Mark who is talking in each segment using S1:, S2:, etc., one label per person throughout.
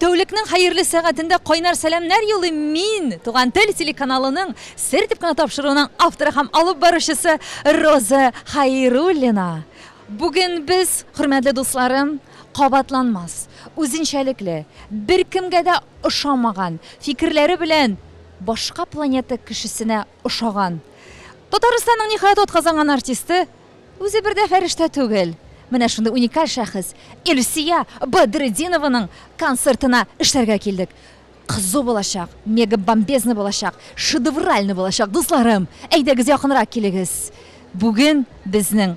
S1: Тәүлекнең хәерле сәгатендә кайнар сәламнәр юллыйм мин Туган тел телеканалының Сер дип кына тапшыруының авторы һәм алып баручысы Роза Хәйруллина. Бүген без, хөрмәтле дусларым, кабатланмас, үзенчәлекле, беркемгә дә ошамаган фикерләре белән башка планета кешесенә ошаган. Татарстанның, ниһаять, атказанган артисты үзе бер дә фәрештә түгел. Менә шундый уникаль шәхес Илсөя Бадретдинованың концертына эшләргә килдек. Кызу булачак, мегабомбезный булачак, шедевральный булачак, дусларым! Әйдәгез, якынрак килегез! Бүген безнең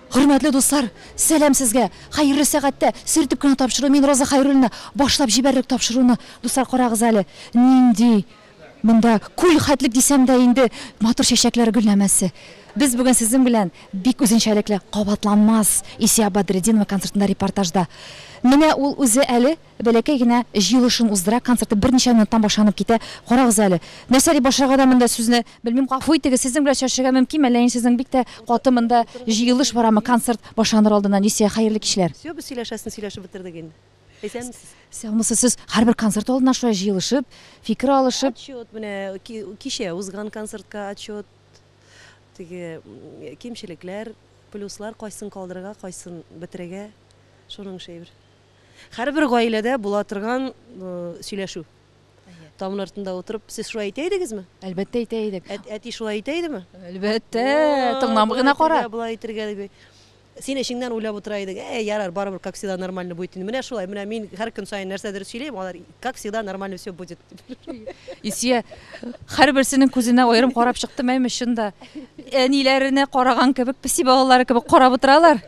S1: Хөрмәтле дуслар, сәлам сезгә! Хәерле сәгатьтә, сөртеп кенә тапшыру, мин Роза Хәйруллина, башлап җибәрдек тапшыруны. Дуслар, карагыз әле, нинди монда күл хәтлек дисәм дә инде, матур чәчәкләр гөлләмәсе. Без бүген сезнең белән бик үзенчәлекле, кабатланмас Исия Бадретдинова концертында репортажда. Менә ул үзе әле. Бәләкәй генә җыелышын уздыра, концерты берничә минуттан башланып китә. Карагыз әле. Нәрсә дип башларга да монда сүзне белмим. Гафу итегез, сезнең белән сөйләшергә мөмкинме, әллә инде сезнең бик тә каты монда җыелыш барамы, концерт башланыр алдыннан? Исә, хәерле кичләр. Все, без сөйләшәсен сөйләшеп
S2: бетердек инде. Исәнмесез. Саумысыз,
S1: сез һәрбер концерт алдыннан шулай җыелышып, фикер алышып. Отчет менә,
S2: кичә узган концертка отчет, теге кимчелекләр, плюслар, кайсын калдырырга, кайсын бетерергә, шуның эше әйбер. Һәрбер гаиләдә була торган сөйләшү. Тамын артында утырып, сез шулай әйтә идегезме? Әлбәттә әйтә идек.
S1: Әти шулай әйтә идеме?
S2: Әлбәттә,
S1: тыңлам гына кара. Болай әйтергә дип.
S2: Син эчеңнән уйлап утыра идең, ә ярар, барыбер как всегда нормально будет. Менә шулай, менә мин һәр көн саен нәрсәдер сөйлим, алар как всегда нормально все будет. Исия
S1: һәрберсенең күзенә аерым карап чыктым, әйме чында. Әниләренә караган кебек, песи балалары кебек карап утыралар.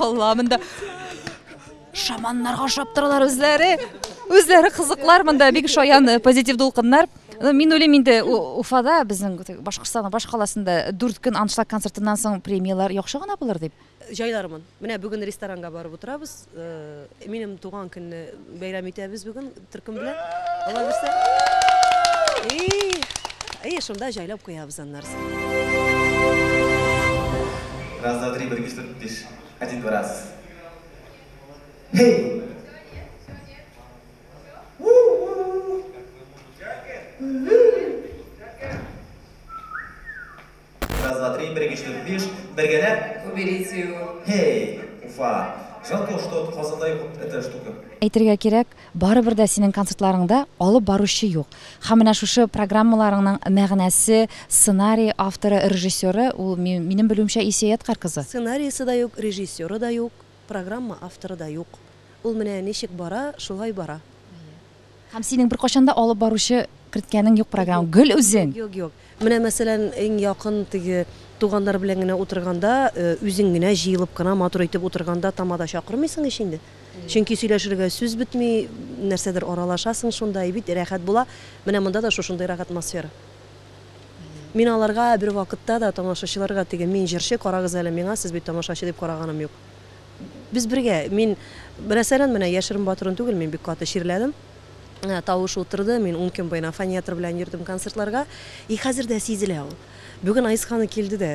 S1: Алла, монда шаманнарга ошап торалар үзләре. Үзләре кызыклар монда бик шаян э, позитив дулкыннар. Ну, мин уйлыйм инде У- Уфада безнең Башкортстан баш каласында дүрт көн аншлаг концертыннан соң премияләр яхшы гына булыр дип. Җайлармын. Менә
S2: бүген ресторанга барып утырабыз. Минем туган көнне бәйрәм итәбез бүген төркем белән. Алла бирсә. И, и шунда җайлап куябыз аннарсын.
S3: Раз, два, три, бер, ике, өч, дүрт, биш. Один, два, раз. Хей! Раз, два, три, бер, ике, өч, дүрт, биш, бергәләп. Уберите его. Һей,
S4: Уфа.
S3: Жалко, что вот Казанда юк вот эта штука. Әйтергә кирәк,
S1: барыбер дә синең концертларыңда алып баручы юк. Һәм менә шушы программаларыңның мәгънәсе, сценарий авторы, режиссеры, ул ми- минем белүемчә Исия Яткар кызы. Сценариесе да юк,
S2: режиссеры да юк, программа авторы да юк. Ул менә ничек бара, шулай бара. Һәм
S1: синең беркайчан да алып баручы керткәнең юк программа, гел үзең? Юк, юк. Менә,
S2: мәсәлән, иң якын теге туганнар белән генә утырганда, үзең генә җыелып кына матур итеп утырганда тамада чакырмыйсың ич инде. Чөнки сөйләшергә сүз бетми, нәрсәдер аралашасың шунда, и бит рәхәт була. Менә монда да шушындый рәхәт атмосфера. Мин аларга бер вакытта да тамашачыларга теге мин җырчы, карагыз әле миңа, сез бит тамашачы дип караганым юк. Без бергә, мин, мәсәлән, менә яшерен батырын түгел, мин бик каты чирләдем. Тавыш утырды, мин ун көн буена фонетр белән йөрдем концертларга. И хәзер дә сизелә ул. Бүген Айсханы килде дә,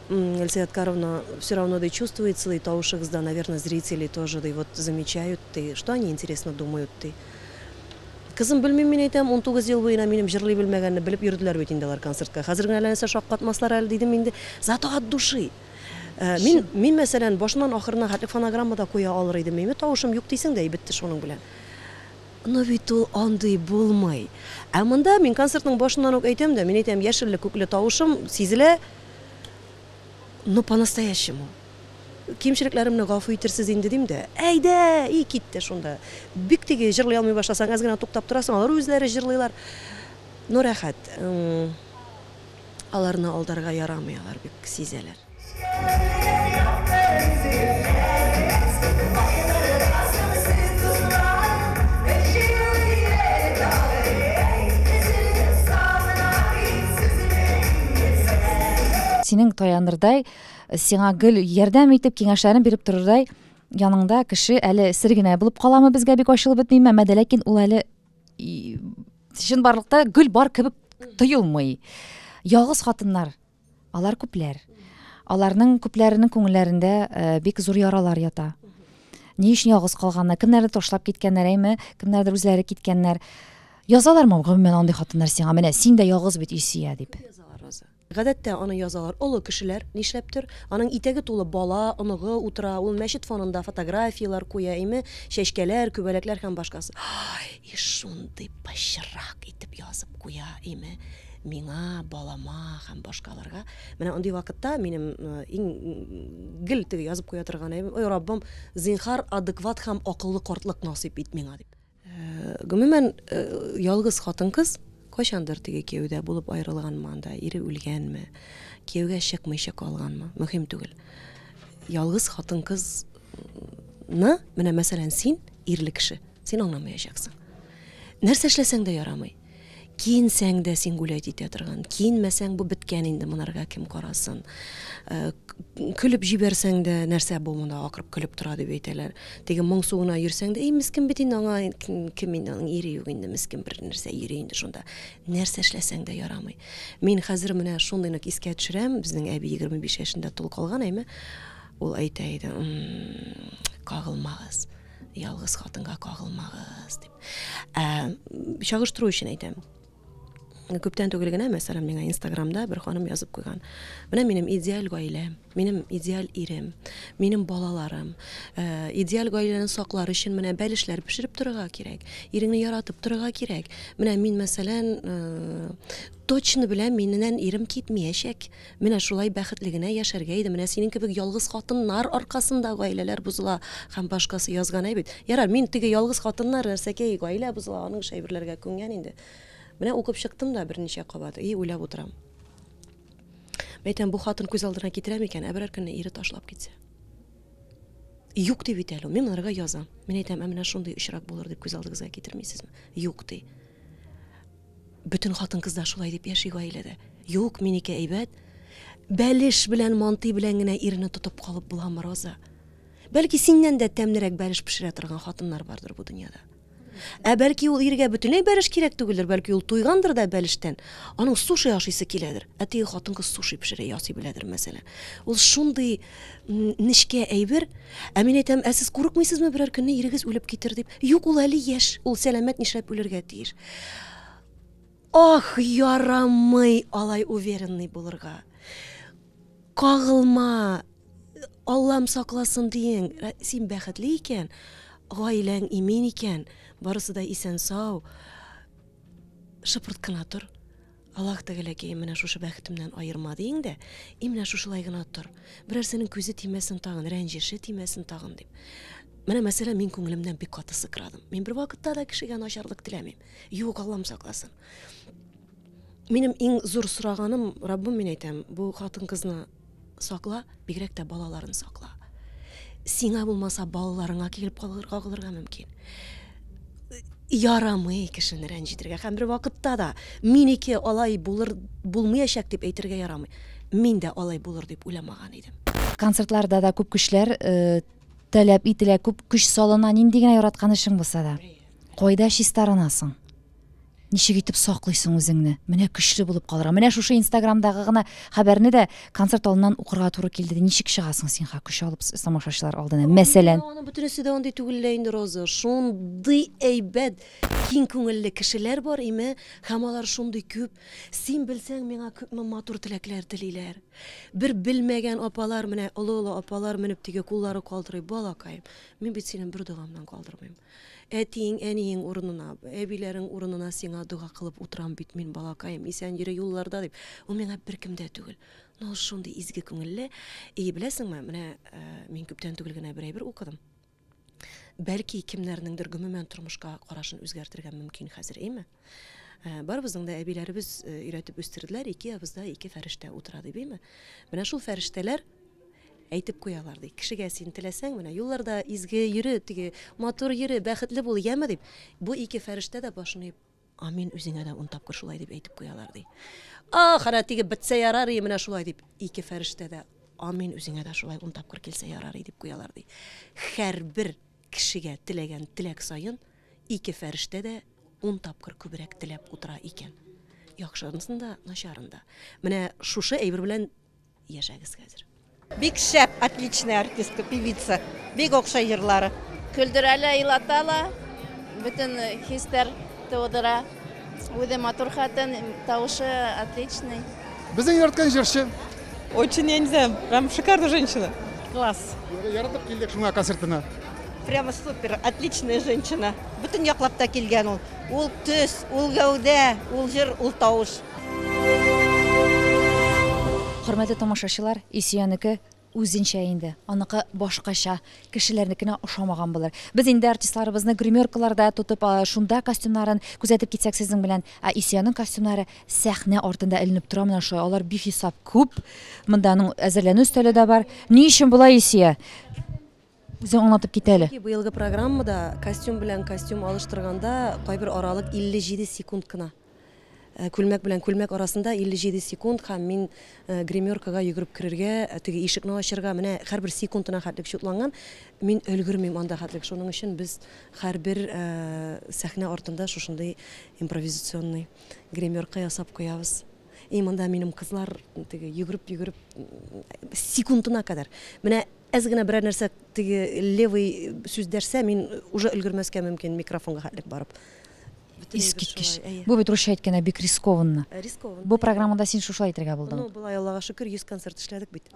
S2: Эльсия Откаровна, все равно ди, чувствуется ди, тавышыгызда, наверное, зрители тоже ди, вот замечают ди, что они интересно думают ди. Кызым, белмим мин әйтәм, 19 ел буена минем җырлый белмәгәнне белеп йөрделәр бит инде алар концертка. Хәзер генә әллә нәрсә шаккатмаслар әле дидем инде. Зато от души. Мин, мин мәсәлән, башыннан ахырына хәтле фонограмма да куя алыр идем, мими тавышым юк дисең дә, и бетте шуның белән. Но бит ул андый булмый. Ә монда мин концертның башыннан ук әйтәм дә, мин әйтәм, яшелле-күкле тавышым сизелә, но по-настоящему. Кимчелекләремне гафу итерсез инде, дим дә, әйдә, и китте шунда. Бик теге җырлый алмый башласаң, әз генә туктап торасың, алар үзләре җырлыйлар. Но рәхәт. Аларны алдарга ярамый, алар бик сизәләр.
S1: Синең таянырдай, сиңа гел ярдәм итеп, киңәшләрен биреп торырдай яныңда кеше әле сер генә булып каламы безгә бик ачылып бетмиме, мәдә ләкин ул әле чынбарлыкта гөл бар кебек тоелмый ялгыз хатыннар алар күпләр аларның күпләренең күңелләрендә э, бик зур яралар ята ни өчен ялгыз калганнар кемнәрдер ташлап киткәннәр әйме кемнәрдер үзләре киткәннәр язалармы гомумән андый хатыннар сиңа менә син дә ялгыз бит илсөя дип Гадәттә,
S2: аны язалар. Олы кешеләр, нишләптер. Аның итәге тулы бала, оныгы утыра, ул мәчет фонында фотографияләр куя, име, чәчкәләр, күбәләкләр һәм башкасы. Һай, и шундый пычрак итеп язып куя, име, миңа, балама һәм башкаларга. Менә андый вакытта минем иң гел теге язып куя торган әйберем, Ой, Раббым, зинһар, адекват һәм акыллы картлык насыйп ит миңа, дип. Гомумән, ялгыз хатын-кыз кайчандыр теге кияүдә булып аерылганмы анда, ире үлгәнме, кияүгә чыкмыйча калганмы, мөһим түгел. Ялгыз хатын-кызны, менә мәсәлән, син ирле кеше, син аңламаячаксың. Нәрсә эшләсәң дә ярамый. Киенсәң дә син гулять итә торган, киенмәсәң бу беткән инде, монарга кем карасын. Э, көлеп җибәрсәң дә, нәрсә бу монда акырып көлеп тора дип әйтәләр. Теге моңсу гына йөрсәң дә, эй мискен бит инде аңа кем инде аның ире юк инде мискен бер нәрсә йөри инде шунда. Нәрсә эшләсәң дә ярамый. Мин хәзер менә шундый нык искә төшерәм, безнең әби 25 яшендә тол калган, әйме? Ул әйтә иде, кагылмагыз. Ялгыз хатынга кагылмагыз дип. Ә, чагыштыру өчен әйтәм. Күптән түгел генә, мәсәлән, миңа Инстаграмда бер ханым язып куйган. Менә минем идеаль гаиләм, минем идеаль ирем, минем балаларым. Ә, идеаль гаиләне саклар өчен менә бәлешләр пешереп торырга кирәк, иреңне яратып торырга кирәк. Менә мин, мәсәлән, ә, точно беләм, миннән ирем китмиячәк. Менә шулай бәхетле генә яшәргә иде, менә синең кебек ялгыз хатыннар аркасында гаиләләр бозыла һәм башкасы язган әй бит. Ярар, мин теге ялгыз хатыннар, нәрсәкәй, гаилә бозыла, аның эш әйберләргә күнгән инде. Менә укып чыктым да берничә кабат, и, уйлап утырам. Мәйтәм, бу хатын күз алдына китерә микән, ә берәр көнне ире ташлап китсә? Юк ди бит әле ул, мин аларга язам. Мин әйтәм, ә менә шундый очрак булыр дип күз алдыгызга китермисезме? Юк ди. Бөтен хатын-кызлар шулай дип яши гаиләдә. Юк, минеке әйбәт. Бәлеш белән манты белән генә ирне тотып калып буламы, Роза? Бәлки, синнән дә тәмлерәк бәлеш пешерә торган хатыннар бардыр бу дөньяда. Ә бәлки ул иргә бөтенләй бәлеш кирәк түгелдер, бәлки ул туйгандыр да бәлештән, аның суши ашыйсы киләдер. Ә теге хатын-кыз суши пешерә, ясый беләдер, мәсәлән. Ул шундый нечкә әйбер. Ә мин әйтәм, ә сез курыкмыйсызмы берәр көнне ирегез үлеп китер дип? Юк, ул әле яшь, ул сәламәт нишләп үлергә тиеш? Ах, ярамый алай уверенный булырга. Кагылма, Аллам сакласын диең, син бәхетле икән, гаиләң имин икән, барысы да исән сау, шыпырт кына тор. Аллаһ Тәгаләкәем, менә шушы бәхетемнән аерма, диең дә, и менә шушылай гына тор. Берәрсенең күзе тимәсен тагын, рәнҗеше тимәсен тагын, дип. Менә, мәсәлән, мин күңелемнән бик каты сыкрадым. Мин бервакытта да кешегә начарлык теләмим. Юк, Аллам сакласын. Минем иң зур сораганым, Раббым, мин әйтәм, бу хатын-кызны Сакла, бигрәк тә балаларын сакла. Сиңа булмаса, балаларыңа килеп калырга калырга мөмкин. Ярамый кешене рәнҗетергә һәм бер вакытта да минеке алай булыр булмаячак дип әйтергә ярамый. Мин дә алай булыр дип уйламаган идем. Концертларда да
S1: күп көчләр э, таләп ителә, күп көч салына. Нинди генә яраткан эшең булса да. Кайда чистарынасың? Ничек итеп саклыйсың үзеңне? Менә көчле булып калырга. Менә шушы Инстаграмдагы гына хәбәрне дә концерт алдыннан укырга туры килде. Ничек чыгасың син ха көч алып тамашачылар алдына?
S2: Мәсәлән, Аның
S1: бөтенесе
S2: дә андый түгел лә инде,
S1: Роза.
S2: Шундый
S1: әйбәт,
S2: киң күңелле кешеләр бар, име, һәм алар шундый күп. Син белсәң, миңа күпме матур теләкләр телиләр. Бер белмәгән апалар, менә олы-олы апалар менеп тиге куллары калтырый, балакаем, мин бит сине бер догамнан калдырмыйм. Әтиең, әниең урынына, әбиләрең урынына сиңа дога кылып утырам бит мин, балакаем, исән йөре юлларда, дип. Ул миңа беркем дә түгел. Ну, ул шундый изге күңелле. И, беләсеңме, менә мин күптән түгел генә бер әйбер укыдым. Бәлки, кемнәрнеңдер гомумән тормышка карашын үзгәртергә мөмкин хәзер, эйме? Ә, барыбызның да әбиләребез э, өйрәтеп үстерделәр, ике ябызда ике фәрештә утыра ди бейме? Менә шул фәрештәләр әйтеп куялар ди. Кешегә син теләсәң, менә юлларда изге йөре, теге матур йөре, бәхетле бул, яме дип. Бу ике фәрештә дә башын иеп, амин үзеңә дә ун тапкыр шулай дип әйтеп куялар ди. Ахыра тиге битсә ярар и менә шулай дип ике фәрештә дә амин үзеңә дә шулай ун тапкыр килсә ярар и дип куялар ди. Хәрбер Кешегә теләгән теләк саен ике фәрештә дә ун тапкыр күбрәк теләп утыра икән. Яхшысын да, начарын да. Менә шушы әйбер белән яшәгез хәзер. Бик шәп,
S4: отличная артистка, певица. Бик охшай җырлары. Көлдерә лә,
S5: елата ла, бөтен хисләр тудыра. Үзе матур хатын, тавышы отличный. Безнең яраткан
S6: җырчы. Очень я не
S4: знаю, прям шикарная женщина. Класс. Яратып килдек
S6: шуңа концертына. Прямо
S4: супер, отличная женщина. Бүтін яклап та килгән ул. Ул төс, ул гәүдә, ул җыр, ул тавыш.
S1: Хөрмәтле тамашачылар, Исиянеке Үзенчә инде, аныкы башкача, кешеләрнекенә ошамаган булыр. Без инде артистларыбызны гримеркаларда тотып, шунда костюмнарын күзәтеп китсәк сезнең белән, ә Исиянең костюмнары сәхнә артында эленеп тора менә шулай, алар бихисап күп, монда аның әзерләнү өстәле дә бар. Ни өчен болай, Исия? Үзең аңлатып кит әле. Чөнки быелгы программада
S2: костюм белән костюм алыштырганда кайбер аралык 57 секунд кына. Күлмәк белән күлмәк арасында 57 секунд һәм мин гримеркага йөгереп керергә, теге ишекне ачырга, менә һәрбер секундына хәтлек чутланган. Мин өлгермим анда хәтлек. Шуның өчен без һәрбер сәхнә артында шушындый импровизационный гримерка ясап куябыз. И монда минем кызлар теге йөгереп-йөгереп секундына кадәр. Менә Әз генә берәр нәрсә теге левый сүз дәрсә, мин уже өлгермәскә мөмкин микрофонга хәтлек барып. Искиткеч.
S1: Бу бит русча әйткәндә бик рискованно. Э, рискованно. Бу программада
S2: син
S1: шушылай әйтергә булдың. Ну, болай Аллага шөкер, 100
S2: концерт эшләдек бит.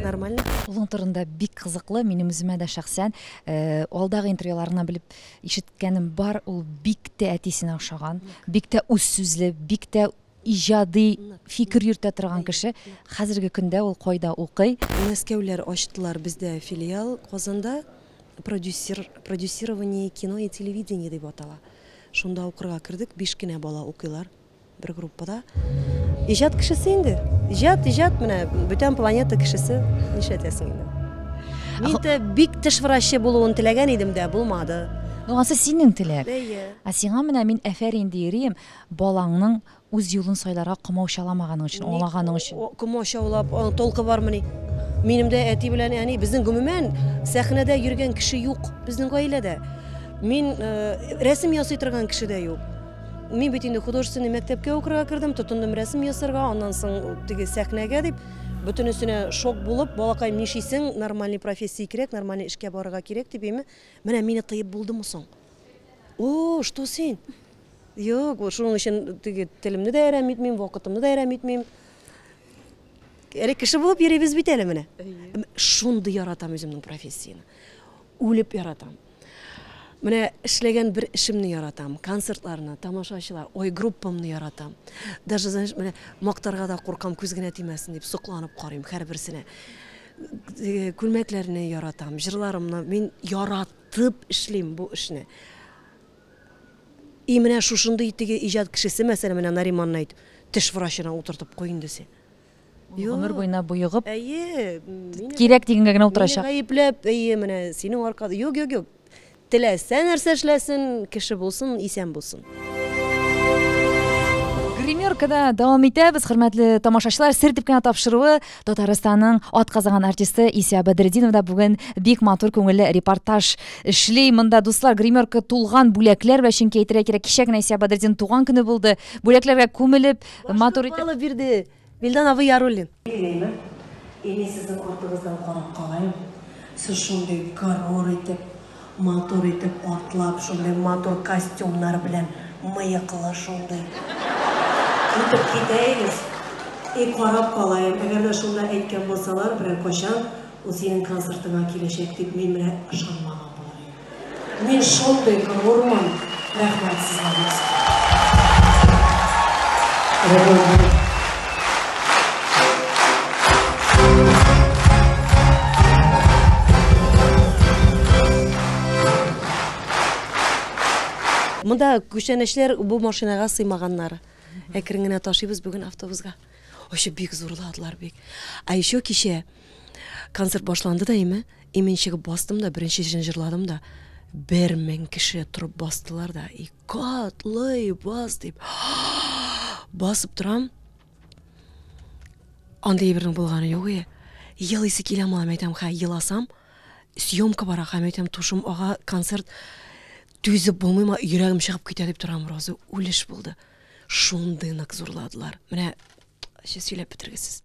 S2: Нормально. Улың турында
S1: бик кызыклы, минем үземә дә шәхсән э, алдагы интервьюларына белеп ишеткәнем бар, ул бик тә әтисенә охшаган, бик тә үз сүзле, бик тә Иҗади фикер йөртә торган кеше. Хәзерге көндә ул кайда укый? Мәскәүләр
S2: ачтылар бездә филиал. Казанда продюсер, продюсирование кино и телевидения дип атала. Шунда укырга кердек. Биш кенә бала укыйлар бер группада. Иҗат кешесе инде. Иҗат, иҗат, менә бүтән планета кешесе. Нишләтәсең инде. Мин дә бик теш врачы булуын теләгән идем дә, булмады. Ну, ансы синең
S1: теләк. Әйе. Ә сиңа менә
S2: мин
S1: әфәрин диерем. Балаңның үз юлын сайларга комаучаламаганың өчен, Ник аңлаганың өчен. комаучаулап, аның
S2: толкы бармыни? Минем дә әти белән әни, безнең гомумән сәхнәдә йөргән кеше юк безнең гаиләдә. Мин рәсем ясый торган кеше дә юк. Мин бит инде художественный мәктәпкә укырга кердем, тотындым рәсем ясарга, аннан соң теге сәхнәгә дип, бөтенесенә шок булып, балакаем, нишисең, нормальный профессия кирәк, нормальный эшкә барырга кирәк, дип, әйме, менә мине тыеп булдымы соң? О, что син? Юк, шуның өчен теге телемне дә әрәм итмим, вакытымны да әрәм итмим. Әле кеше булып йөрибез бит әле менә. Шундый яратам үземнең профессияне. Үлеп яратам. Менә эшләгән бер эшемне яратам, концертларны, тамашачылар, ой, группамны яратам. Даже, знаешь, менә мактарга да куркам, күз генә тимәсен дип сокланып карыйм һәрберсенә. Э, күлмәкләрне яратам, җырларымны мин яратып эшлим бу эшне. И менә шушындый теге иҗат кешесе мәсәлән менә Нариманны әйт, теш врачына утыртып куй инде син. Ул гомер
S1: буена боегып,
S2: кирәк дигәнгә
S1: генә утырачак. Мине гаепләп, әйе, менә
S2: синең аркада, юк, юк, юк. Теләсә нәрсә эшләсен, кеше булсын, исән булсын.
S1: Гримеркада дәвам итәбез, хөрмәтле тамашачылар, сер дип кенә тапшыруы Татарстанның атказанган артисты Исә Бәдретдинов да бүген бик матур күңелле репортаж эшли. Монда дуслар гримерка тулган бүләкләр белән, чөнки әйтергә кирәк, кичә генә Исә Бәдретдин туган көне булды. Бүләкләргә күмелеп, матур итеп. Башны алып бирде
S2: Вилдан абый Яруллин. Билгеләйме? Әни, сезнең артыгыздан карап калыйм. Сез шундый горур итеп, Матур итеп атлап, шундый матур костюмнар белән мыеклы шундый итеп китәегез. И карап калаем, әгәр дә шунда әйткән булсалар, берәр кайчан ул синең концертыңа киләчәк дип, мин менә ышанмаган булыр идем. Мин шундый горур мын. Рәхмәт сезгә бик зур. Монда күчәнәчләр бу машинага сыймаганнар. Әкрен генә ташыйбыз бүген автобуска. Очып бик зурладылар бик. А еще кичә Концерт башланды да име, имен чыгып бастым да, беренче җырын җырладым да, бер мең кеше торып бастылар да, и котлый бас дип. Басып торам. Андый бернең булганы юк и. Елыйсы килә мала мәйтәм, хә, еласам, съемка бара, хә, мәйтәм, тушым ага, концерт түзеп булмыйма, йөрәгем чыгып китә дип торам, роза үлеш булды. Шундый нык зурладылар. Менә сөйләп бетергесез.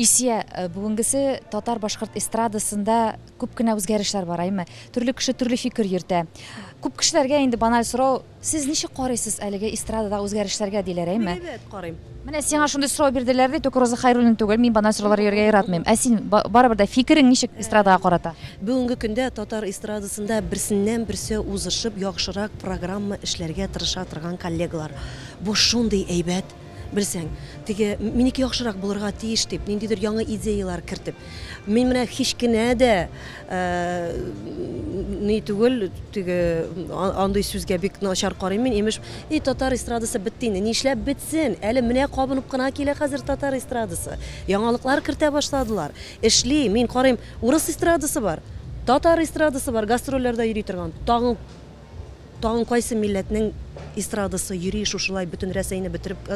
S1: Исия, э, бүгенгесе татар-башкорт эстрадасында Күп кенә үзгәрешләр бар, әйме? Төрле кеше төрле фикер йөртә. Күп кешеләргә инде баналь сорау, сез ничек карыйсыз әлеге эстрададагы үзгәрешләргә, диләр, әйме? Әйбәт карыйм. Менә
S2: сиңа шундый сорау
S1: бирделәр ди, только Роза Хәйруллина түгел, мин баналь сораулар йөрергә яратмыйм. Ә син, барыбер дә, фикерең ничек эстрадага карата? Бүгенге көндә
S2: татар эстрадасында берсеннән-берсе узышып, яхшырак программа эшләргә тырыша торган коллегалар. Бу шундый әйбәт, Белсәң, теге минеке яхшырак булырга тиеш дип, ниндидер яңа идеяләр кертеп, мин менә һич кенә дә ни түгел, теге андый сүзгә бик начар карыйм мин, имеш, и татар эстрадасы бетте инде. Нишләп бетсен? Әле менә кабынып кына килә хәзер татар эстрадасы. Яңалыклар кертә башладылар. Эшли, мин карыйм, урыс эстрадасы бар, татар эстрадасы бар, гастрольләрдә йөри торган. Тагын Тагын кайсы милләтнең эстрадасы йөри шушылай бөтен Рәсәйне бетереп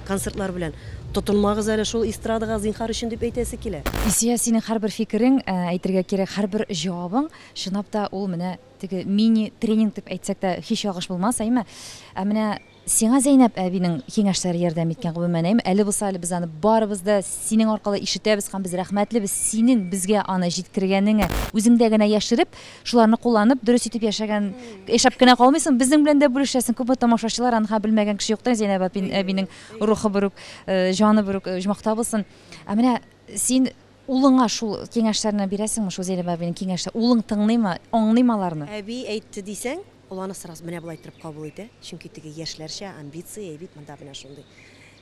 S2: концертлар белән? Тотынмагыз әле шул эстрадага, зинхар өчен, дип әйтәсе килә. Ильсия, синең һәрбер
S1: фикерең, әйтергә кирәк, һәрбер җавабың, чынлап та, ул менә теге мини-тренинг дип әйтсәк тә һич ялгыш булмас, әйме? Ә менә Сиңа Зәйнәб әбинең киңәшләре ярдәм иткән, гомумәнәем. Әле булса әле без аны барыбыз да синең аркылы ишетәбез һәм без рәхмәтлебез синең безгә аны җиткергәнеңә. Үзеңдә генә яшереп, шуларны кулланып, дөрес итеп яшәгән, яшәп кенә калмыйсың, безнең белән дә бүлешәсең. Күпме тамашачылар анһа белмәгән кеше юктыр, Зәйнәб әпин, әбинең рухы бер үк, җаны бер үк оҗмахта булсын. Ә менә син улыңа шул киңәшләрне бирәсеңме, шул Зәйнәб әбинең киңәшлә, улың тыңлыймы, аңлыймы аларны? Әби әйтте дисәң.
S2: Ул аны сразу менә болай иттереп кабул итә, чөнки теге яшьләрчә амбиция бит монда менә шундый.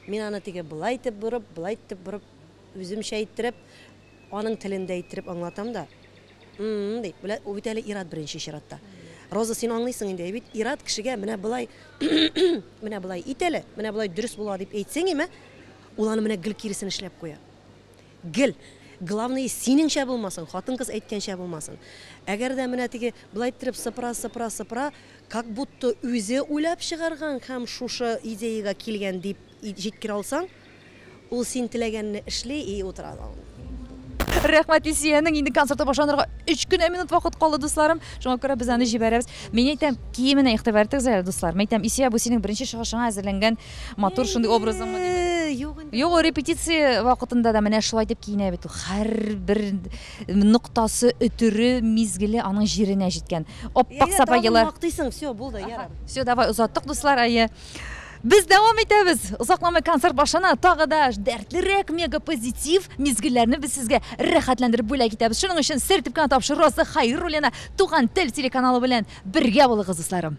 S2: Мин аны теге болай итеп борып, болай итеп борып, үземчә иттереп, аның телендә иттереп аңлатам да, М-м, ди, белә, ул бит әле ир-ат беренче чиратта. Роза, син аңлыйсың инде, әйбит, ир-ат кешегә менә болай, менә болай ит әле, менә болай дөрес була дип әйтсәң име, ул аны менә гел киресен эшләп куя. гел главное синеңчә булмасын хатын кыз әйткәнчә булмасын әгәр дә менә теге былай иттереп сыпыра сыпыра сыпыра как будто үзе уйлап чыгарган һәм шушы идеяга килгән дип җиткерә алсаң ул син теләгәнне эшли и утыра да
S1: Рәхмәт Илсиянең инде концерты башланырга 3 кенә минут вакыт калды, дусларым. Шуңа күрә без аны җибәрәбез. Мин әйтәм, киеменә игътибар итегез әле, дуслар. Мин әйтәм, Илсия, бу синең беренче чыгышыңа әзерләнгән Матур шундый образыңмы дим. Э, Юк инде. Юк, репетиция вакытында да менә шулай дип киенә бит. Һәрбер ноктасы, өтере, мизгеле аның җиренә җиткән. Аппак сапагылар. Мактыйсың, все, булды,
S2: ярар. Все, давай озаттык,
S1: дуслар, әйе. Без дәвам итәбез. Озакламый концерт башына тагы да дәртлерәк мега позитив мизгелләрне без сезгә рәхәтләндереп бүләк итәбез. Шуның өчен сертеп кенә тапшырасы Хайруллина Туган тел телеканалы белән бергә булыгыз, дусларым.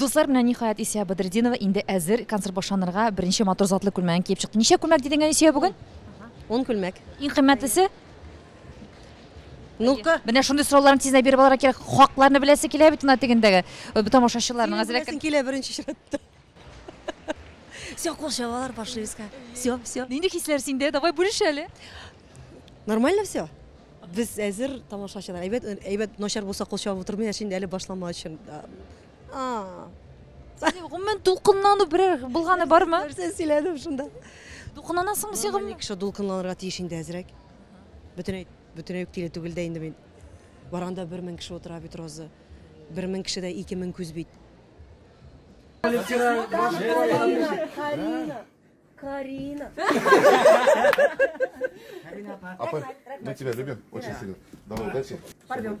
S1: Дуслар менә ниһаять Исия Бадридинова инде әзер концерт башланырга беренче матур затлы күлмәген киеп чыкты. Ничә күлмәк дидең Исия бүген? 10 күлмәк.
S2: Иң кыйммәтлесе? Ну-ка. Менә шундый сорауларны тиздән
S1: биреп алырга кирәк. Хакларны беләсе килә бит ана тегендәге э, тамашачыларның әзрәк. Беләсең килә беренче чиратта.
S2: Все, кул чабалар, пошли искать. Все, все. Нинди хисләр синдә?
S1: Давай бүлеш әле.
S2: Нормально все. Без әзер тамашачылар. Әйбәт, әйбәт начар булса кул чабып утырмый, әшин әле башлама өчен. А.
S1: Гомумән дулкынлану берәр булганы бармы? Нәрсә сөйләдем шунда?
S2: Дулкынланасыңмы
S1: син гомумән? Кеше дулкынланырга тиеш
S2: инде әзрәк. Бөтенәй, бөтенәй үк тиле түгел дә инде мин. Барганда бер мең кеше утыра бит, Роза. Бер мең кеше дә ике мең күз бит. Карина.
S7: Апа, мы тебя любим очень сильно. Давай, удачи. Порвем.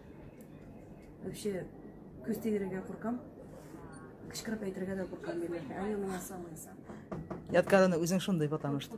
S2: Вообще, күз тигерергә куркам. Кычкырып әйтергә дә куркам милләтне. Әле миңа салмыйсың. Яткарына
S8: үзең шундый, потому что.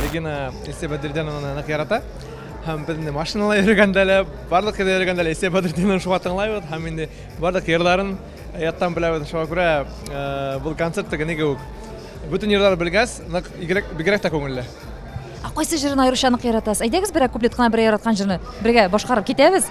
S9: Регина Исә Бәдердинованы нык ярата. Һәм безне машинала йөргәндә лә, барлык кирдә йөргәндә лә Исә Бәдердиновны шуңа тыңлайбыз һәм инде барлык йырларын яттан беләбез. Шуңа күрә э, бу концерт теге ни кебек. Бөтен йырлар белгәс, нык игрәк бигрәк тә күңелле. Ә кайсы җырын
S1: аеруча нык яратасыз? Әйдәгез берәр куплет кына берәр яраткан җырны бергә башкарып китәбез.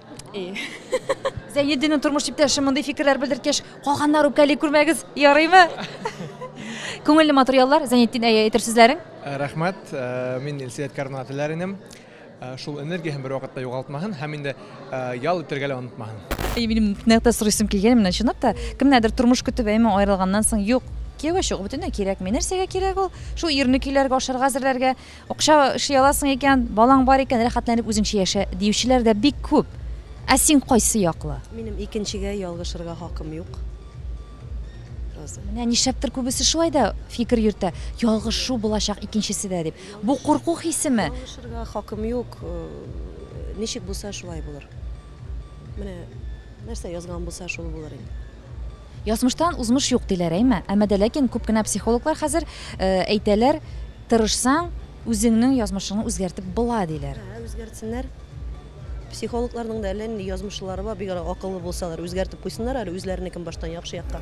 S5: Зәйнетдинның
S1: тормыш иптәше мондый фикерләр белдерткәч, калганнар үпкәли күрмәгез, ярыймы? Күңелле матур яллар, Зәйнетдин, әйе, әйтер сүзләрең? Э, рәхмәт, э,
S9: мин Илсөят Карнага теләр инем. Э, шул энергияһен бер вакытта югалтмаһын һәм инде ял итергә лә онытмаһын. И минем нәкътә
S1: сорыйсым килгән менә чынлап та, кемнәрдер тормыш көтеп әйме аерылганнан соң, юк, кияүгә чыгу бөтенләй кирәкми. Нәрсәгә кирәк ул? Шул ирне көйләргә, ашарга әзерләргә. Акча эшли аласың икән, балаң бар икән, рәхәтләнеп үзеңчә яшә, диючеләр дә бик күп. Ә син кайсы яклы? Минем икенчегә
S2: ялгышырга хакым юк. Роза.
S1: Менә нишләптер күбесе шулай да фикер йөртә, ялгышу булачак икенчесе дә дип. Бу курку хисеме? Ялгышырга хакым
S2: юк. Ничек булса, шулай булыр. Менә нәрсә язган булса, шул булыр инде. Язмыштан
S1: узмыш юк, диләр, әйме? Әмма дә ләкин күп кенә психологлар хәзер әйтәләр, тырышсаң, үзеңнең язмышыңны үзгәртеп була, диләр. Әһә, үзгәртсеннәр.
S2: Психологларның да әллә нинди язмышлылары бар, бигрәк акыллы булсалар, үзгәртеп куйсыннар әле үзләренекен баштан яхшы якка.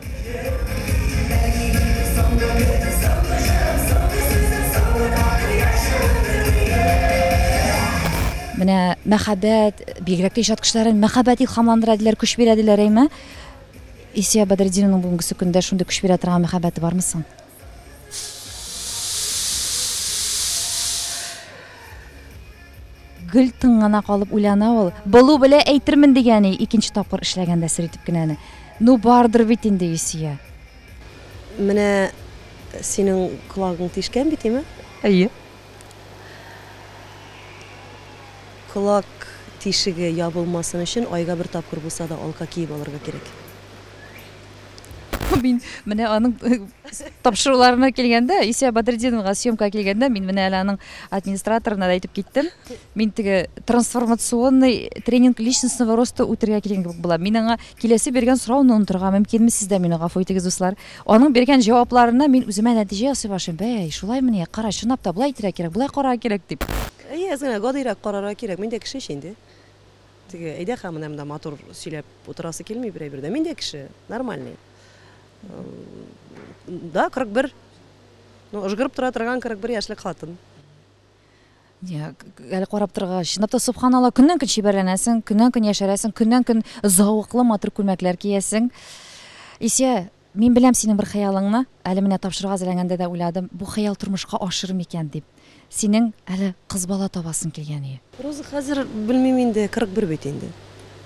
S1: Менә мәхәббәт, бигрәк тә иҗат кешеләрен мәхәббәт илһамландыра диләр, көч бирә диләр, әйме? Исия Бәдретдиновның бүгенгесе көндә шундый көч бирә торган мәхәббәте бармы соң? гел тын гына калып уйлана ул. Былу белә әйтермен дигәне икенче тапкыр эшләгәндә сер итеп кенә аны. Ну бардыр бит инде Исия.
S2: Менә синең колагың тишкән бит, име? Әйе. Колак тишеге ябылмасын өчен айга бер тапкыр булса да алка киеп алырга кирәк. Мин
S1: менә аның тапшыруларына килгәндә, Исә Бадретдиновга съемка килгәндә, мин менә әле аның администраторына да әйтеп киттем. Мин теге трансформационный тренинг личностного роста үтергә килгән кебек булам. Мин аңа киләсе биргән сорауны онытырга мөмкинме, сез дә мине гафу итегез, дуслар. Аның биргән җавапларыннан мин үземә нәтиҗә ясый башлыйм, Бәй, шулаймыни, кара, чынлап та, болай итәргә кирәк, болай карарга кирәк, дип. Әйе, әз генә гадиерәк
S2: карарга кирәк. Мин дә кеше ич инде. Теге, әйдә ха, менә монда матур сөйләп утырасы килми берәй бердә. Мин дә кеше, нормальный. Да, 41. Ну, ыжгырып тора торган 41 яшьлек хатын.
S1: Әле карап торга, чынлап та субханалла, көннән-көн чибәрләнәсең, көннән-көн яшәрәсең, көннән-көн зәвыклы матур күлмәкләр киясең. Исә мин беләм синең бер хыялыңны, әле менә тапшыруга әзерләнгәндә дә уйладым, бу хыял тормышка ашыр микән дип. Синең әле кыз бала табасың килгән иде. Роза, хәзер
S2: белмим инде, 41 бит инде.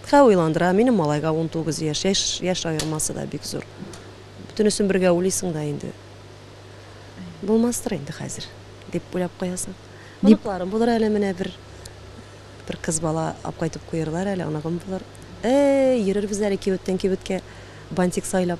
S2: Хә уйландыра, минем малайга 19 яшь, яшь аермасы да бик зур. Бөтенесен бергә уйлыйсың да инде. Булмастыр инде хәзер, дип уйлап куясың. Оныкларым булыр әле менә бер. Бер кыз бала алып кайтып куерлар әле, оныгым булыр. Эй, йөрербез әле кибеттән кибеткә бантик сайлап.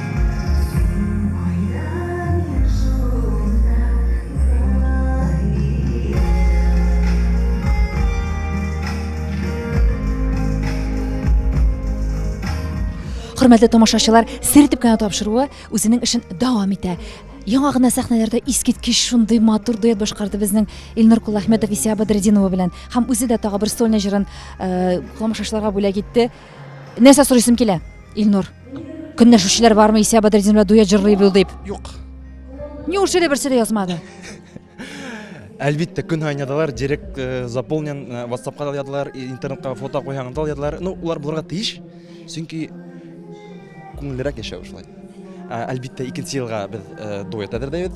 S1: Хөрмәтле тамашачылар, сер итеп кенә тапшыруы үзенең эшен дәвам итә. Яңа гына сәхнәләрдә искиткеч шундый матур дуэт башкарды безнең Илнур Кулахметов Исия Бадретдинова белән. Һәм үзе дә тагы бер сольный җырын э, тамашачыларга бүләк итте. Нәрсә сорыйсым килә, Илнур? Көнләшүчеләр бармы Исә Бадретдин белән дуэт җырлый бил дип? Юк.
S9: Неужели
S1: берсе дә язмады?
S9: Әлбәттә, көн һайын ядалар, директ э, заполнен, э, WhatsApp-ка да ядалар, интернетка фото куйганда да ядалар. Ну, улар булырга тиеш, чөнки күңеллерәк яшәү шулай. Әлбәттә, икенче елга без э, дуэт әзерләйбез.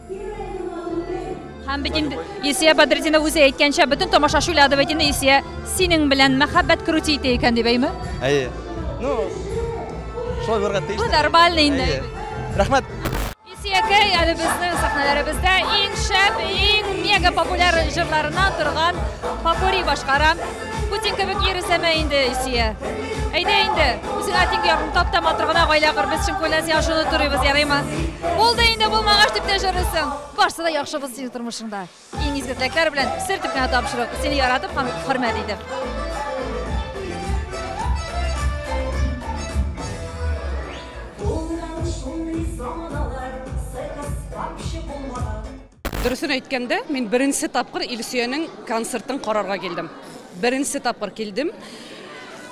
S9: Һәм
S1: бит инде Исия Бадретдина үзе әйткәнчә, бөтен тамашачы уйлады бит инде Исия синең белән мәхәббәт крути итә икән дип, әйме? Әйе. Ну,
S9: шулай булырга тиеш. Бу нормально инде.
S1: Рәхмәт.
S9: Исиякәй
S1: әле безнең сәхнәләребездә иң шәп, иң мега популяр җырларына торган попури башкара. Путин кебек йөресәмә инде, Исия. Әйдә инде, үзең атинг ягын тап та матур гына гаилә кыр, без чын күңелдән сиңа шуны турыйбыз, ярыймы? Булды инде, булмагач дип тә җырлыйсың. Барсы да яхшы булсын синең тормышыңда. Иң изге теләкләр белән сер дип кенә тапшыру. Сине яратып һәм хөрмәт итеп. Булган шундый
S10: заманалар, сыркас, капчы булмаган. Дөресен әйткәндә, мин беренче тапкыр Илсөянең концертын карарга килдем. Беренче тапкыр килдем.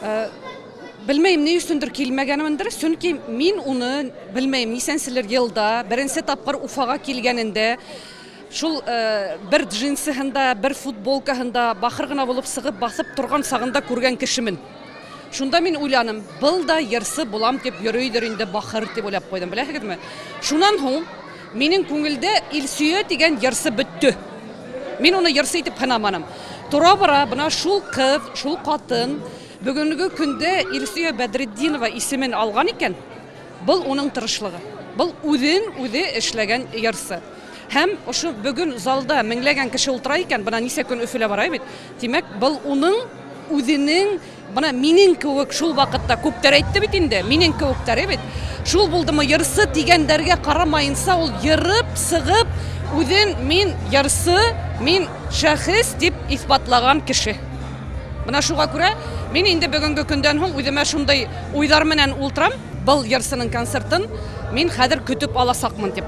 S10: Э, белмәйм, ни өчендер килмәгәнмендер, чөнки мин уны, белмәйм, нисәнчелер елда, беренче тапкыр Уфага килгәнендә, шул э, бер джинсыһында, бер футболкаһында бахыр гына булып сыгып басып торган сагында күргән кешемен. Шунда мин уйланым, был да ерсы булам дип йөридер инде бахыр дип уйлап куйдым, беләсегезме? Шуннан һуң Минем күңелдә Илсөя дигән йырсы бөтте. Мин уны йырсы итеп хынаманым. Тора-бара бына шул кыз, шул катын бүгенге көндә Илсөя Бәдретдинова исемен алган икән, бул уның тырышлыгы. Бул үзен үзе эшләгән йырсы. Һәм ошо бүген залда меңләгән кеше ултыра икән, бына ничә көн Өфелә бара бит. Димәк, бул уның үзенең Менә минең кебек шул вакытта күптәр әйтте бит инде, минең кебектәре бит. Шул булдымы ярсы дигәндәргә карамаенча ул ерып, сыгып, үзен мин ярсы, мин шәхес дип исбатлаган кеше. Менә шуга күрә мин инде бүгенге көндән һуң үземә шундый уйлар менән ултырам, был ярсының концертын мин хәзер көтеп аласакмын дип.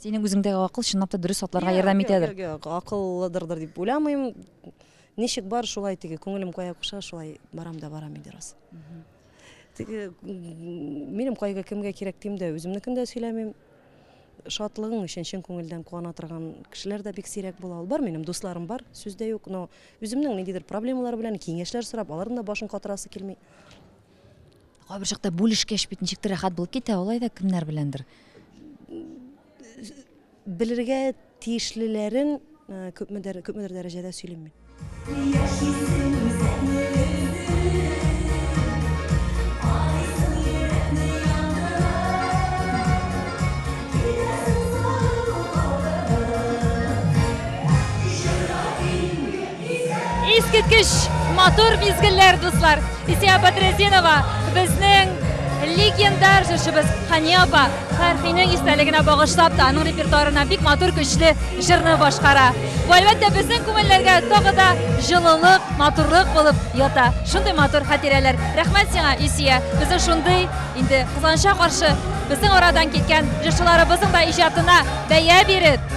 S2: Синең
S1: үзеңдәге акыл чынлап та дөрес атларга ярдәм итәдер. Акыллыдырдыр
S2: дип уйламыйм. Ничек бар, шулай теге күңелем кая куша, шулай барам да барам инде рас. Теге минем кайгы кемгә кирәк дим дә, үземнекен дә сөйләмим. Шатлыгың өчен чын күңелдән куана торган кешеләр дә бик сирәк була. Ул бар минем дусларым бар, сүз дә юк, но үземнең ниндидер проблемалар белән киңәшләр сорап, аларның да башын катырасы килми.
S1: кайбер чакта бүлешкәч бит ничектер рәхәт булып китә алай да кемнәр беләндер
S2: белергә тиешлеләрен э, күпмедер күпмедер дәрәҗәдә сөйлим мин
S1: Искиткеч матур мизгелләр, дуслар! Исия Бәдретдинова, безнең легендар җырчыбыз Хания апа Фәрхинең истәлегенә багышлап та, аның репертуарына бик матур көчле җырны башкара. Бу, әлбәттә, безнең күңелләргә тагы да җылылык, матурлык булып ята. Шундый матур хатирәләр. Рәхмәт сиңа, Исия. Безнең шундый инде кызганычка каршы безнең арадан киткән җырчыларыбызның да иҗатына бәя биреп,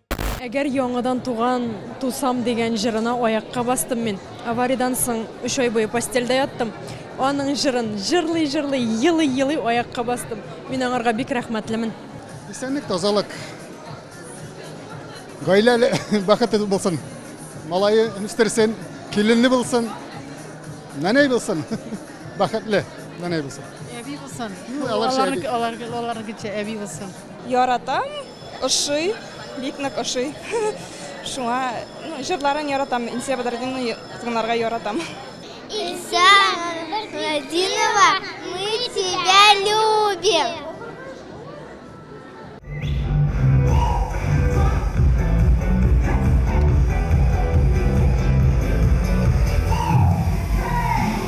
S11: Әгәр яңадан туган, тусам дигән җырына аякка бастым мин. Авариядән соң өч ай буе постельдә яттым. Аның җырын җырлый-җырлый, елый-елый аякка бастым. Мин аңарга бик рәхмәтлемен. Исәнлек,
S6: тазалык. Гаиләле, бәхетле булсын. Малае үстерсен, киленле булсын. Нәнәй булсын. Бәхетле нәнәй булсын. Әби булсын.
S12: Аларча әби.
S6: Аларча әби булсын.
S12: Яратам,
S13: Ошый, бик нык ошый. Шуңа җырларын яратам, Илсөя Бәдретдинованы тыңларга яратам. Илсөя
S14: Бәдретдинова, мы тебя любим.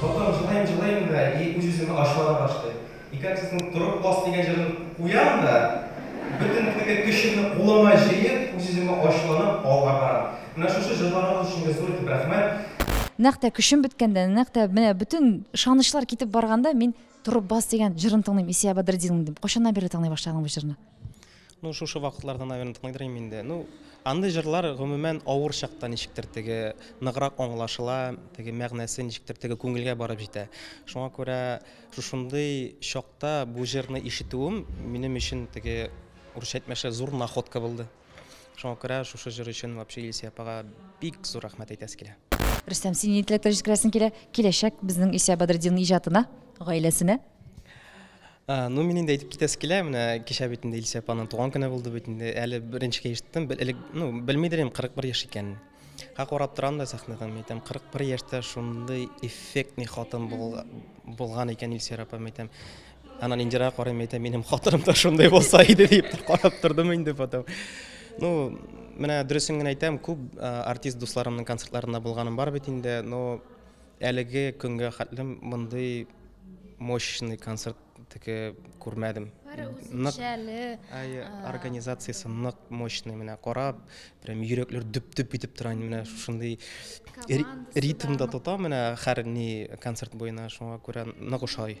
S3: Дутым, җылыйм, җылыйм да и үз-үземә ачулана башлыйм. И как сезнең Торып бас дигән җырын куям да, бөтен теге көчемне кулыма җыеп, үз-үземә ачуланып, алга барам. Менә шушы җырларыгыз өчен дә зур итеп рәхмәт. Нәкъ тә көчем
S1: беткәндә, нәкъ тә менә бөтен ышанычлар китеп барганда мин Торып бас дигән җырын тыңлыйм, Исия Бәдретдинның, дим. Кайчаннан бирле тыңлый башладың бу җырны? Ну шушы
S12: вакытларда наверное тыңлыйдыр идем инде. Ну андый җырлар гомумән авыр чакта ничектер теге ныграк аңлашыла, теге мәгънәсе ничектер теге күңелгә барып җитә. Шуңа күрә шушындый чакта бу җырны ишетүем минем өчен теге урысча әйтмешә зур находка булды. Шуңа күрә шушы җыр өчен вообще Илсөя апага бик зур рәхмәт әйтәсе килә. Рөстәм, син нинди
S1: теләкләр җиткерәсең килә? Киләчәк безнең Илсөя Бәдретдинның иҗатына, гаиләсенә?
S12: Ну, мин инде әйтеп китәсе килә, менә кичә бит инде Илсә апаның туган көне булды бит инде. Әле беренчегә ишеттем, элек, ну, белмидер идем 41 яшь икәнен. Ха карап торам да сәхнәдән, мин әйтәм, 41 яшьтә шундый эффектный хатын булган икән Илсә апа, мин әйтәм. Анан Индирага карыйм, әйтәм, минем хатыным да шундый булса иде дип карап тордым инде потом. Ну, менә дөресен генә әйтәм, күп артист дусларымның концертларында булганым бар бит инде, но Әлеге көнгә хәтле мондый мощный концерт теге күрмәдем. Нык әйе, организациясе нык мощный менә карап, прям йөрәкләр дөп-дөп итеп тора инде менә шундый ритмда тота менә һәр ни концерт буена шуңа күрә нык ошый.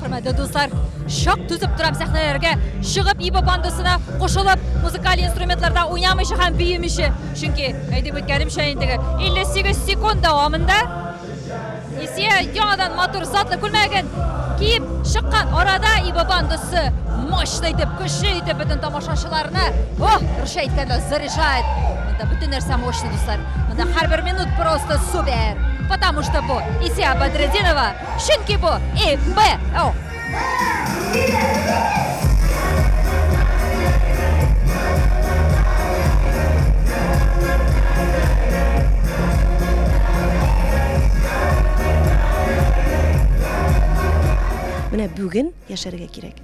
S1: Хөрмәтле дуслар, шок түзеп торам сәхнәләргә чыгып Иба бандасына кушылып, музыкаль инструментларда уйнамыйча һәм биемичә. Чөнки, әйтеп үткәнемчә инде, 58 секунд дәвамында Исия яңадан матур затлы күлмәген киеп чыккан арада Иба бандасы мощно итеп, көчле итеп бөтен тамашачыларны, ох, русча әйткәндә заряжает. Монда бөтен нәрсә мощно, дуслар. Монда һәрбер минут просто супер. Потому что бу Исия Бадрединова, чөнки бу ИБО.
S2: Менә бүген яшәргә кирәк.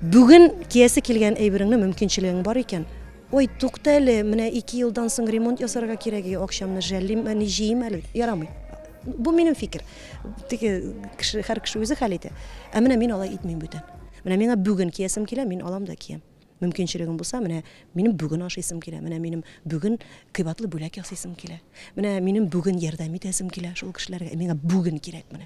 S2: Бүген киясе килгән әйбереңне мөмкинчелегең бар икән, Ой, тукта әле, менә ике елдан соң ремонт ясарга кирәк, и, акчамны жәллим, әни, җыйм әле. Ярамый. Бу минем фикер. Теге кеше, һәр кеше үзе хәл итә. Ә менә мин алай итмим бүтән. Менә миңа бүген киясем килә, мин алам да киям. Мөмкинчелегем булса, менә минем бүген ашыйсым килә, менә минем бүген кыйбатлы бүләк ясыйсым килә, менә минем бүген ярдәм итәсем килә шул кешеләргә, миңа бүген кирәк менә.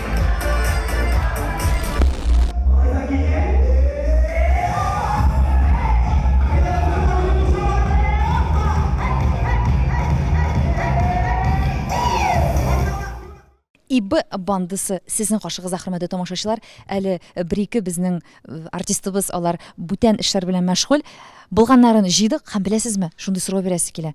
S1: ИБ бандысы сезнең каршыгызда, хөрмәтле тамашачылар. Әле э, бер-ике безнең э, артистыбыз алар бүтән эшләр белән мәшгуль. Булганнарын җыйдык һәм беләсезме, шундый сорау бирәсе килә.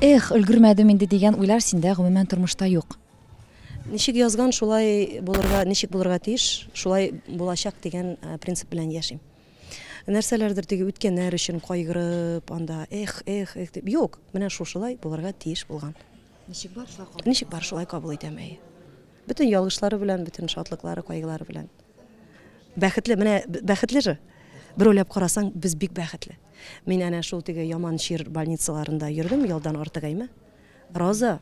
S1: Эх, өлгермәдем инде дигән уйлар синдә гомумән тормышта юк. Ничек
S2: язган, шулай булырга, ничек булырга тиеш, шулай булачак дигән э, принцип белән яшим. Нәрсәләрдер теге үткәннәр өчен кайгырып, анда эх, эх, эх дип. Юк, менә шушылай булырга тиеш булган.
S1: Ничек бар, шулай кабул. Ничек бар,
S2: шулай кабул итәм. Бөтен ялгышлары белән, бөтен шатлыклары, кайгылары белән. Бәхетле, менә бәхетле же. Бер уйлап карасаң, без бик бәхетле. Мин әнә шул теге яман чир больницаларында йөрдем, ялдан артык әйме. Роза,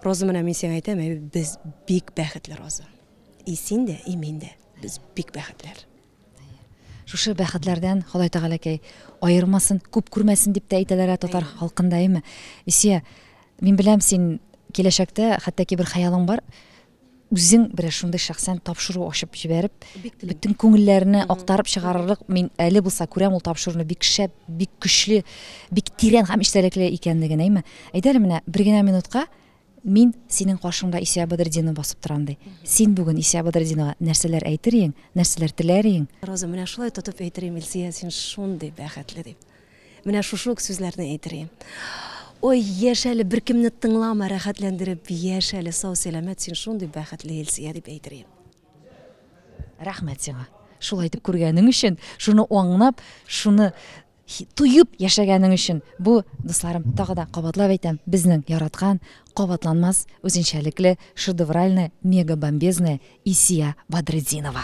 S2: Роза менә мин сиңа әйтәм, без бик бәхетле, Роза. И син дә, и мин дә. Без бик бәхетләр.
S1: Шушы бәхетләрдән Ходай Тәгаләкәй аермасын, күп күрмәсен дип тә әйтәләр ә татар халкында, әйме? Исия, мин беләм, син киләчәктә хәтта ки бер хыялың бар, үзең бер шундый шәхсән тапшыру ачып җибәреп, бөтен күңелләрне актарып чыгарырлык, мин әле булса күрәм ул тапшыруны бик шәп, бик көчле, бик тирән һәм истәлекле икәнлеген, әйме? Әйдәле менә бер генә минутка Мин синең каршыңда Исә Бадретдинова басып торам, ди. Син бүген Исә Бадретдинова нәрсәләр әйтер иең, нәрсәләр теләр иең? Роза, менә шулай тотып
S2: әйтер ием, Илсөя, син шундый бәхетле, дип. Менә шушы ук сүзләрне әйтер ием. Ой, яшә әле, беркемне тыңлама, рәхәтләндереп яшә әле, сау-сәламәт, син шундый бәхетле, Илсөя, дип әйтер ием.
S1: Рәхмәт сиңа, шулай итеп күргәнең өчен, шуны аңлап, шуны Туеп яшәгәнең өчен. Бу, дусларым, тагы да кабатлап әйтәм, безнең яраткан, кабатланмас, үзенчәлекле, шедевральная, мегабомбезная Исия Бадретдинова.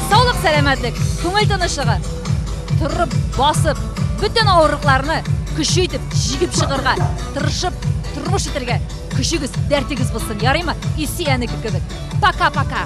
S1: Саулык, сәламәтлек, күңел тынычлыгы. Торып, басып, бөтен авырлыкларны көче итеп җигеп чыгарга, тырышып, тормыш итәргә көчегез, дәртегез булсын, ярыймы? Исе әнеке кебек. Пока-пока.